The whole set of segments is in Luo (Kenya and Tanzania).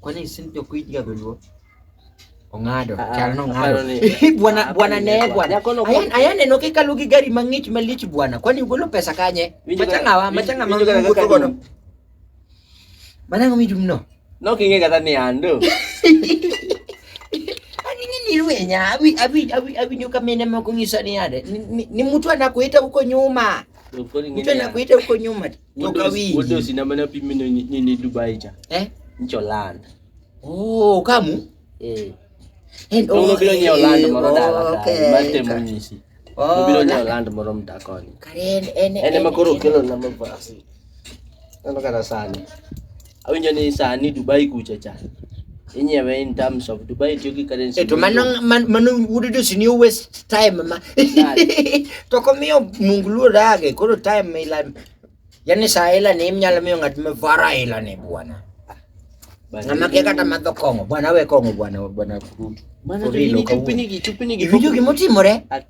Kwani si ndio kuiga dhuluo? Ong'ado, Ah, chal no aparo ng'ado. ni- Hii bwana aparo bwana ni ne kwa- bwana. Jakono kwa- Ayan ayan eno ke kalu gi gari mang'ich malich bwana. Kwani ugolo pesa kanye? Winjo ka- Machanga wa, winjo- machanga winjo ka- mangu kaka godo. dum. Manango mi dum no. No king'e kata ni ando. Ani nini rwenya? Abi abi abi abi nyoka mene moko ngisa ni ade. Ni- ni- Ni mtu anakuita huko nyuma. Mtu anakuita huko nyuma toka wingi. Wote usinamana pimi ni ni Dubai cha. Eh? Ncho land. Oh, kamu? Eh. And oh, oh, bila ni Orlando moro dala. Mate munyisi. Oh, bila ni Orlando moro mtakoni. Karen ene. Ene makoro kelo na mabasi. Ano kana sani. awinjo ni sani Dubai kucha cha inyewe in terms of Dubai tiyo gi currency Eh, to mano man- mano wuod dosi ni waste time ma to komiyo mungu luor age koro time ila yani saa ila ni mnyalo miyo ng'at ma vara ila ni bwana Bana- ng'ama kia kata madho kong'o bwana we kong'o bwana bwana kurutu Bana, For real, chupinigi- ok awuo. chupinigi- chupinigi- Iwinjo gimotimore At-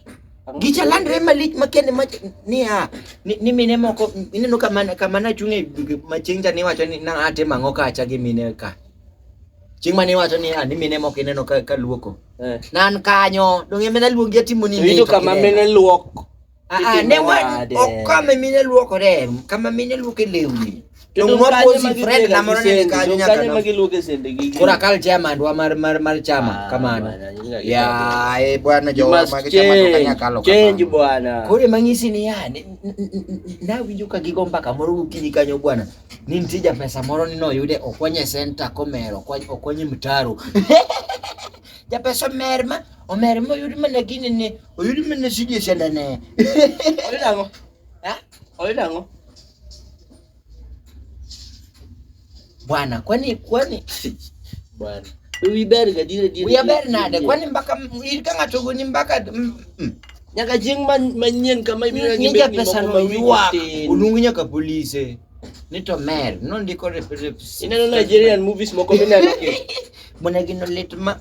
Gicha landre malich makende ma niya ni, ni mine moko ineno kama kama na chunge machieng cha niwacho ni na ate mango kacha gi mine ka. Chieng mane wacho ni ani mine moko ineno ka, ka luoko. Eh. Nan kanyo dong eme na luongi atimo ni Rito kama mine luok. Ah, ah ne wa okame mine luokore kama mine luoke lewni. Kura kal chairman wa mar mar mar chama ah, kamano. Ya e bwana jo ma chama to kanya kalo. Change bwana. Kore mangisi ni ya na winjo ka gigo mbaka moro gokinyi kanyo bwana. Ni nitie ja pesa moro ni noyude okwanye center komero okwanye mtaro. Ja pesa mer ma omer ma oyudi mana gini ni oyudi mana sidi senda ne. Oyudi ango? Ha? Oyudi ango? Bwana, kwani kwani bwana wiberga dire dire wiber nade kwani mpaka kanga togo ni mpaka mm, mm. nyaka jing manyien kama ibiro ni nyaka pesa no yuwa ulungu nyaka police nito mer no ndiko rep rep ineno Nigerian movies moko mineno Mwana gino lit ma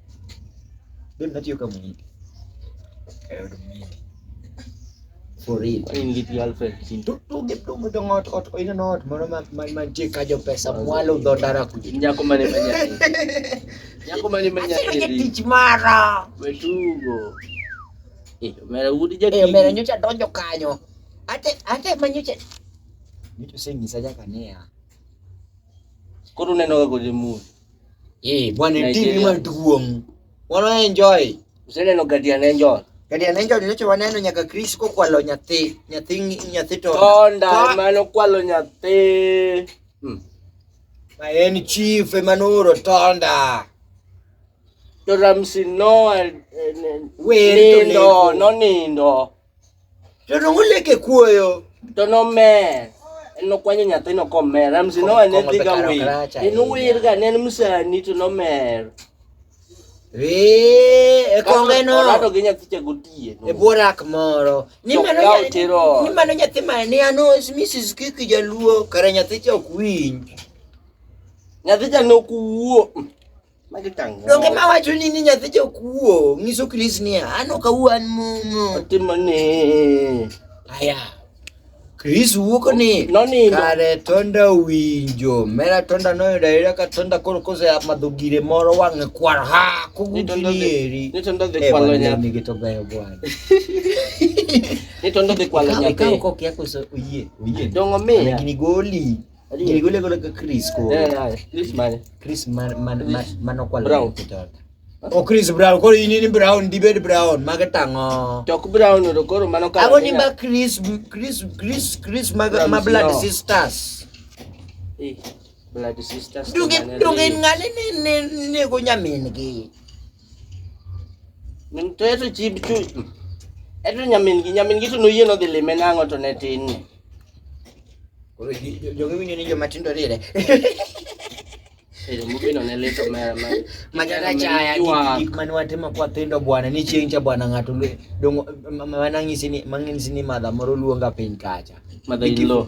Bado natiyo kama mhindi. Kayo mhindi. For real. In Liti Alfred Kinto. Tu tu gip tu mudong ot ot o ina not mono ma ma ma je kajo pesa mwalo do dara kuji. Nyako mane manya. Nyako mane manya. Asira tich mara. Wetugo. Eh, mera udi jadi. Eh, mera nyocha donjo kanyo. Ate ate manyocha. Nyocha sengisa jaka nea. Koro neno ga kodi mudi. Eh, bwana Nigeria. timu maduong'. Wana enjoy. Useneno Guardian Angel. Guardian Angel nyocha waneno nyaka Chris kokwalo nyathi, nyathi nyathi to. Tonda mano kwalo nyathi. Hmm. Ma en chief emanoro tonda. To Ramsey no eh, eh, nindo, no nindo. To nongo lek e kuoyo. To nomer. En nokwanyo nyathino komer. Ramsi nowa ne dhi ga wir. En wir ga ne en msani to nomer. Wee, e konge no. Orado gi nyathi cha gotie. E borak moro. Ni mano nyathi. Ni mano nyathi ma ni ano Mrs. Kiki Jaluo kare nyathi cha ok winj. Nyathi cha ne ok wuo. Magi tang'. Donge ma wacho ni ni nyathi jokuo nyiso Chris niya an ok awuo an momo. Otimo ni. Aya. Chris wuok ni nonindo kare tonda winjo mera tonda noyudo ayuda ka tonda koro kose amadho gire moro wang'e kwar ha kugutinieri ni tonda dhi eh, kwalo nyathi gi to beyo bwana ni tonda dhi kwalo nyathi ka ok okia koso oyie oyie dongo miya gini goli Chris Brown koro in in Brown dibed Brown mage tang'o tok Brown to koro mano ka ago ni ba Chris Chris Chris Chris mag ma blood sisters eh blood sisters dunge dunge ngani ne ne ne go nyamin gi Min to eto chib chu. Eto nyamin gi nyamin gi to noyie nodhi lime nang'o to ne tin ni. Koro ji- jo- jogi winjo ni joma tindo rire. Pero mubino ne lito mera ma. Manyaka chaya Jua. gik- gik mane watimo kwa thindo bwana ni chieng' cha bwana ng'ato lwe- dongo- ma- ma- manang'isi ni- mang'isi ni madha moro luonga piny kacha. Mother in law.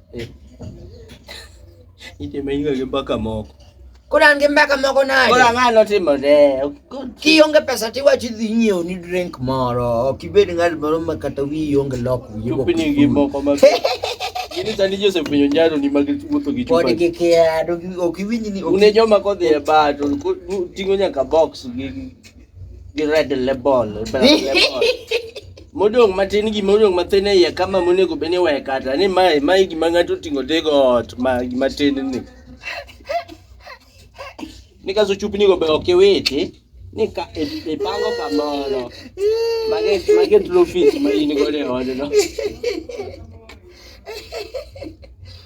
Itime inga gi mbaka moko. Koro an gi mbaka moko nade? Koro ang'a notimore. Kionge pesa tiwachi dhi nyiewo ni drink moro. Ok ibed ng'at moro ma kata wiyi onge lok wiyi. Chupni gi moko ma Ini tani Joseph penyo njaro ni magi wuotho gi chupa. Pod gikia, ok iwinj ni. Une joma kodhi e bar to ting'o nyaka box gi gi red label black label modong' matin gima odong' matin e iye kama monego bed ni weye kata ni mae mae gima ng'ato oting'o tego ot ma gima tin ni ni kaso chupni go be ok iwiti ni ka i- ipango kamoro mage mage trophies ma in godo e odno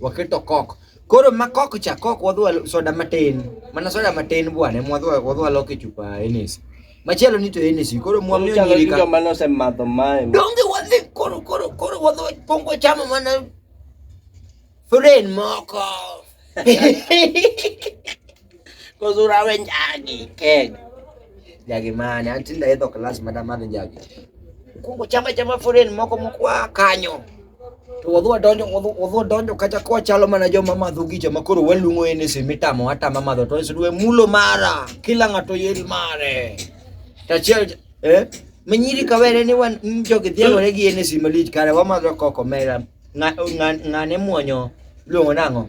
waketo kok koro ma kok cha kok wadwa soda matin mana soda matin bwana mwadwa wadwa loke chupa enes machielo ni to enes koro mwamiyo Chalo nyiri gi ka joma nosemadho mae. donge wadhi koro koro koro wadwa pongo chamo mana furen moko Kuzurawe njagi keg. Njagi mane antinda edho klas mada madhi njagi. Kungo chama chama foreign moko mokwa kanyo. To wadhwa donjo wadhwa donjo kata kwa chalo mana joma madho gicha makoro waluongo ene simitamo hata mama dho to isudwe mulo mara kila ng'ato yel mare. Tachiel eh menyiri kawere ni wan jogi dhiagore gi ene simalich kare wamadho koko mera ng'ane muonyo luongo nang'o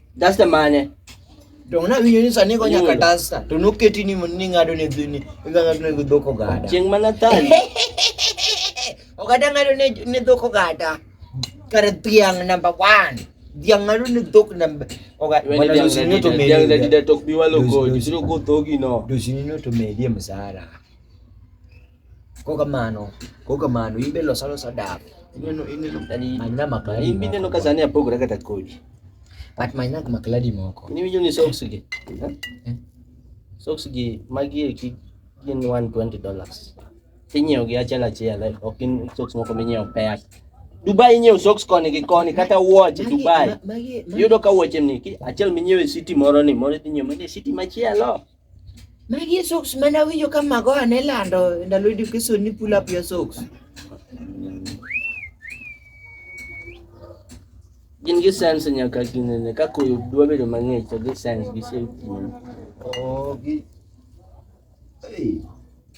Dasta mane? To una winyo ni sani ko nyaka dasta. To noketi ni ni ngado ne dhini. Iganga ne dhok ogada. Chieng mana tani. ogada ngado ne ne dhok ogada. Kar tiang number 1. Dhiang ngado ne dhok number ogada. Wana dosi ni to medi. Dhiang da dida tok biwa loko. Dosi ni to medi msara. Kokamano, kokamano, in be los alosa dap. Ineno, ineno, yani, Manyna makladi in be ineno moko. ka sani apogora kata kodi. But manyna makladi moko. In iwinjo ni socks gi? ha? Eh. Socks gi magi eki gin 120 dollars. Inyiewo gi achiel achiel, eh, ok in socks moko minyiewo pea. Dubai inyiewo socks koni gi koni kata wuoche Magi- Dubai. ma- magi- magi- Yudo ka wuoche ni ki- achiel minyiewo e city moro ni moro idhi nyiewo manie city machielo. Magi e socks mane awinjo ka Magoha ne lando e ndalo education ni pull up your socks. Gin gi sense nyaka ginene ka koyo dwa bedo mang'ich to gi sense gi safety. Oh, gi. Hey.